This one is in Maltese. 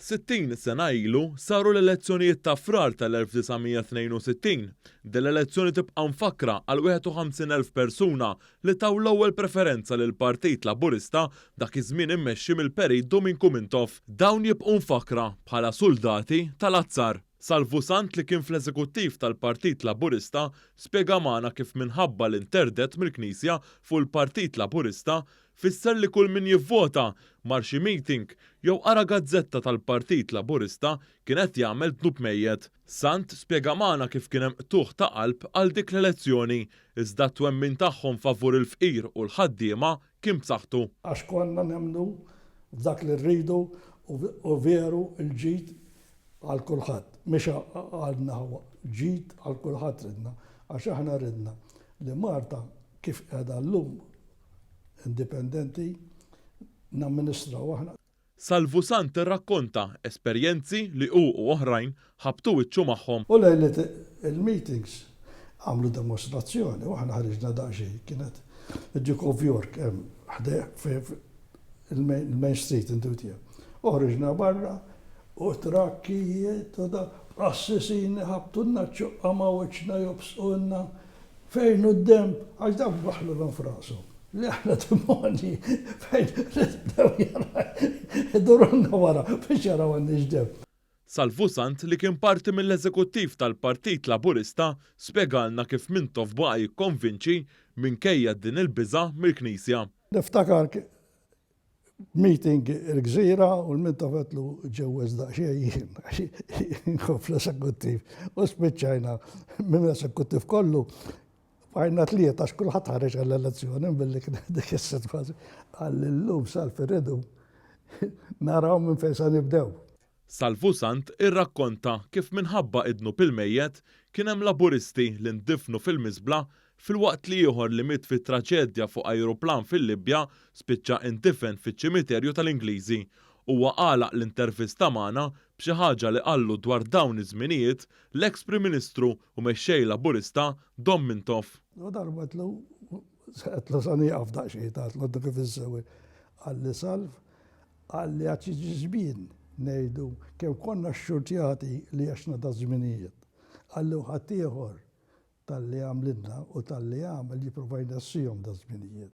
Sittin sena ilu saru l-elezzjonijiet ta' Frar tal-1962. Din l-elezzjoni tibqa' mfakkra għal 51 elf persuna li taw l-ewwel preferenza lill-Partit Laburista dak iż-żmien immexxi mill-Perit Duminku Mintoff. Dawn jibqgħu mfakkra bħala suldati tal-azzar. Salvu Sant li kien fl-Eżekuttiv tal-Partit Laburista spjega magħna kif minħabba l-interdett mill-Knisja fuq il-Partit Laburista Fisser li kull min jivvota, mar xi meeting, jew qara gazzetta tal-Partit Laburista kien qed jagħmel dnub mejjet. Sant spjega magħna kif kien hemm qtugħ ta' qalb għal dik l-elezzjoni, iżda t-twemmin tagħhom favur il-fqir u l-ħaddiema kien b'saħħtu. Għax konna nemmnu f'dak li rridu u veru l-ġid għal kulħadd, mhix għal naħa, ġid għal kulħadd ridna, għax aħna ridna li Malta kif qiegħda llum, indipendenti namministraw aħna. Salvu Sant irrakkonta esperjenzi li hu u oħrajn ħabbtu wiċċu magħhom. U lejliet il-meetings għamlu demostrazzjoni u aħna ħriġna daqsxejn. Kienet id-Duke of York hemm ħdejh il-Main Street indutija. U ħriġna barra u trakkijiet u dak qassisini ħabbtulna ċ-ċuqqa ma' wiċċna jobsqulna. Fejn hu d-denb? Għax dawn waħħlulhom f'rashom li aħna demonji, fejn bdew jaraw idurulna wara biex jaraw għandniex denb. Salvusant li kien parti mill-Eżekuttiv tal-Partit Laburista spjegalna kif Mintoff baqa' jikkonvinċi minkejja din il-biża' mill-Knisja. Niftakar Meeting il-gżira u l-minta fetlu ġewweż daqsxejn jien għax jien kont fl-esekuttiv u spiċċajna minn l-esekuttiv kollu bqajna tlieta għax kulħadd ħareġ għall-elezzjoni billi kienet dik is-sitwazzjoni. Qal li llum sal-firidu naraw minn fejn se nibdew. Salvusant irrakkonta kif minħabba idnub il-mejjet, kien hemm Laburisti li ndifnu fil-miżbla filwaqt li ieħor li miet fi traġedja fuq ajruplan fil-Libja spiċċa indifen fiċ-ċimiterju tal-Ingliżi. Huwa għalaq l-intervista magħna b'xi ħaġa li qallu dwar dawn iż-żminijiet l-eks Prim Ministru u mexxej Laburista Dom Mintoff. U darba għedtlu, għedtlu sa nieqaf daqsxejn, għedtlu għaddu kif insewi. Qalli Salv, Qal li għad jiġi żmien ngħidu kemm konna xxurtjati li għexna daż-żminijiet. Qal li ħaddieħor talli għamlilna u talli għamel jipprova jnessihom daż-żminijiet.